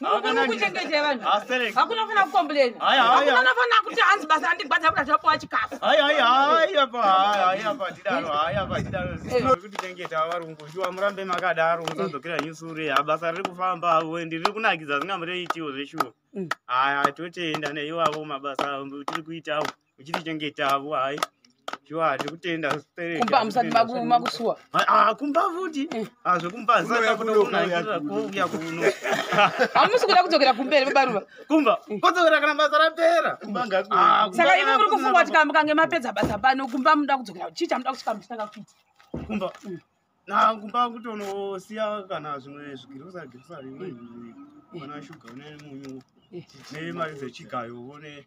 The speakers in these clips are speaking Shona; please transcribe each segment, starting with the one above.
Mukuru kuchengeja vanhu. Asterek. Hakuna fana kukomplain. Haya, haya. Hakuna fana kuti hanzi basa handigwadza kuti achapuwa chikafu. Haya, haya, haya pa, haya, haya pa tidaro, haya pa tidaro. Kuti chengeta varungu, shuwa murambe makadaro, musadzokera nyusure. Ha basa riri kufamba avo, ndi riri kunakidza zvingamure itiwo zveshuwa. Haya, totenda neiwavo mabasa avo tiri kuitawo. uchitichengetawo hayi shuwa tiri kutenda kumba musati makusuwa ah, kumba futi eh. ah, zvekumbaakuuya kuno hamusi kuda kudzokera kumberi vebaruva kumba eh. kodzokera kana basa rapera ah, saka ivo muri kufunga kuti kana mukange mapedza basa pano kumba muda kudzokera chii chamuda kusvika muchitanga kuita kumba mm. na kumba kutonosiya kana zvimwe zvigirosa girosa rimwe mm. kana shuga une munyu eh. nemari dzechigayo one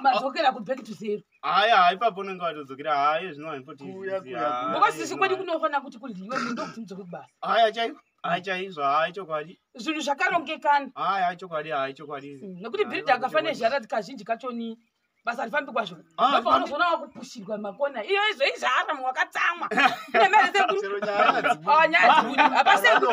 madzokera kuback to zero haya hai papo unenge watodzokera haye zvino haipotibhokosisi kwadi kunofanira kuti kudyiwe munhu ndokuti mudzoke kubasa haya chaiko hai chaizvo hai chokwadi zvinhu zvakarongekana hai hai chokwadi hai chokwadi mm, nekuti bhiridhi akafanira zharati kazhinji kachoni basa rifambi kwazvo ah, apaanozoona wakupushirwa makona iyo izvo izvaaramu wakatsamwa ine mari sekuru nyaya dzekuti apasekuru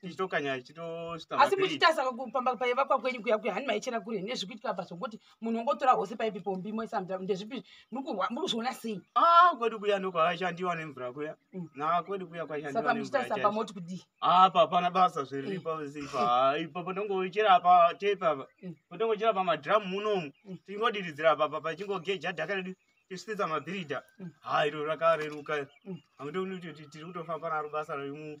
tichitokanya tichitoita asi muchitasa pamba paivakwa kwenyu kuya kuya hani maichera kure nezvi kuitika apa zvokuti munhu ongotora hose paipi pombi moisa mvura ndezvipi muri kuzviona sei ah kwedu kuya ndiko aishandiwa nemvura kuya mm. na kwedu kuya kwaishandiwa saka muchitasa apa moti kudii ah papana basa zviriripo mm. zipa ah, ipo pandongochera apa tepa apa mm. pandongochera pa madrum munomu tingodiridzira apa apa pachingogeja dhaka redu tichititsa mabhiridha ha ah, iro rakareruka amudokutoti tiri kutofamba naro basa remu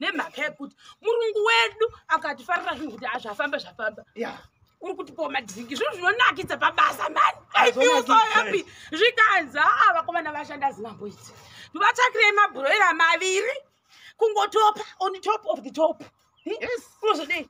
nemhaka yekuti murungu wedu akatifarira zvinhu kuti azvafamba zvafamba uri kutipawo madhiringi zvinhu zvinonakidza pabasa mani ifiusoyapi zvikanzi haa vakomana vashanda zinambo idzi ndivatsvakirei mabhuroira maviri kungotopa on top of the top unozodei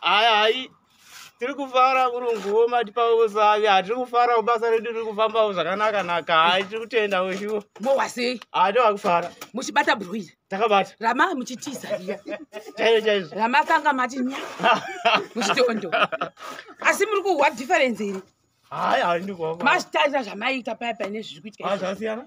Hai hai tiri kufara kurunguwo matipawo usavi hatiri kufarawo basa redu riri kufambawo zvakanaka naka hai tiri kutenda weshuwo mowa sei haa tava kufara muchibata broila takabata rama muchitiza iya chaizvo chaizvo rama kanga mati nya muchitondo asi muri kuhwa difference iri hai hai ndikuhwa masitarira zvamaiita paya paya nezviri kuitika izvi. zvasiyana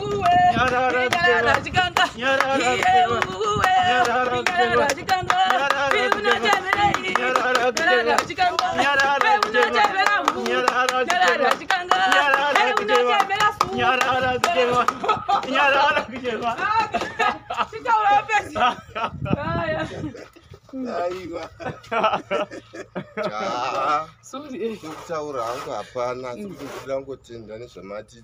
aiwa kutaura hangu hapana asi kuti ndikuda kungotenda nezvamati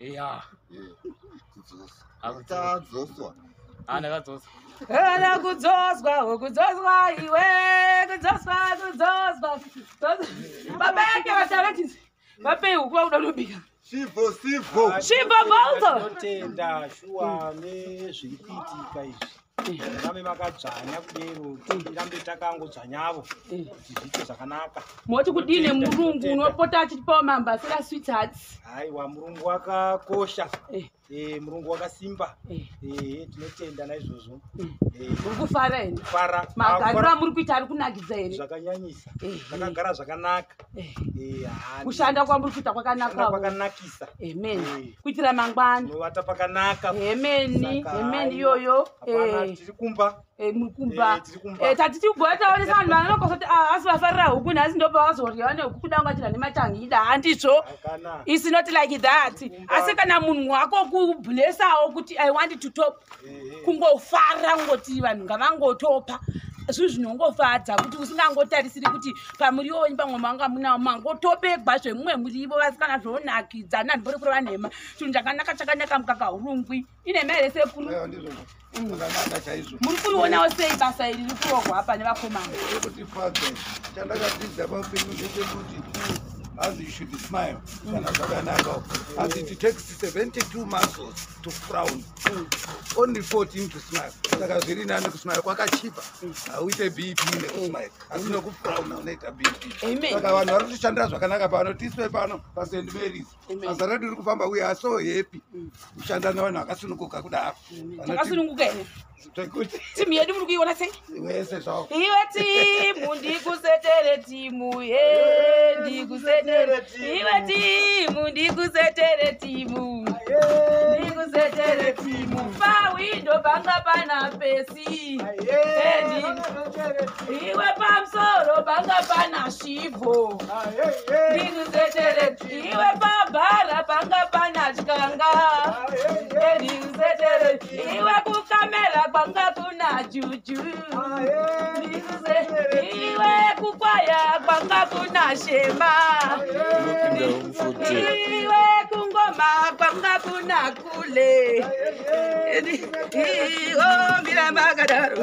Yeah. Akadzoswa. Ana akadzoswa. Ana kudzoswa, kudzoswa iwe, kudzoswa, kudzoswa. Baba yake vataratizi. Vape huku vakuda kunobika. Shivo, shivo. Shivo, Balto. Tenda, shuwa, nezviri kuitika izvi. vame vakadzvanya kudero tirambe takangodzvanyavo eh. kuti zviite zvakanaka moti kudii nemurungu unopota achitipawo mambasira swits hats haiwa murungu wakakosha eh. eh, murungu wakasimba tinotenda naizvozvo muri kufara here fara magariro amuri kuita ari kunakidza here zvakanyanyisa takagara zvakanaka Eh, Eh, hanzi. kushanda kwamuri kuita Kushanda kwakanaka kwakanakisa amen Eh. kuitira mangwani novata pakanaka amen Saka, amen aiwa. iyoyo Hapana, Eh, tiri kumba eh, muri kumba Eh, tiri kumba. Eh, tati tigona taonesa vanhu vanokosa kuti ah, asi vafarira huku nhasi ndopavazorya vane huku kuda ungachira nematangida handizvo hakana It's not like that. Asi kana munhu wako kublesawo kuti I want to top kungofara ngoti vanhu ngavangotopa zvinhu zvinongofadza kuti usingangotarisiri kuti pamuriwo wenyu pamwe manga munawo mangotobegwa zvemumwe murivo vasikana zvonakidza nandibori kureva nhema chinhu chakanaka chakanaka mukaka urungwi inhema here sekuru muri kurionawo sei basa iri riri kurohwa apa nevakomana as you should smile kana zvakanaka as it takes 72 muscles to frown only 14 to smile saka zviri nani kusmile kwakachipa hauite bp nekusmile asi nokufrauna unoita bpsaka vanhu vari kutishandira zvakanaka pano tiswe pano past marys basa redu riri kufamba uye aso happy kushanda nevanhu vakasunukuka kudaro zvekuti timu yedu muri kuiona sei wese zvawo iwe timu ndikusetere timu ye ndikusetere iwe timu ndikusetere timu ndikusetere timu pawindo panga pana pesi iwe pamusoro panga pana shivo ndikusetere iwe pabhara panga pana chikanga ndikusetere iwe kukamera kwanga kuna juju iwe kukwaya kwanga kuna shema iwe kungoma kwanga kuna kule iwo miramba akadaro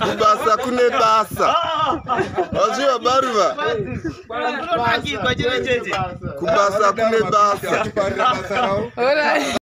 kubasa kune basa vazviva baruva kubasa kune basa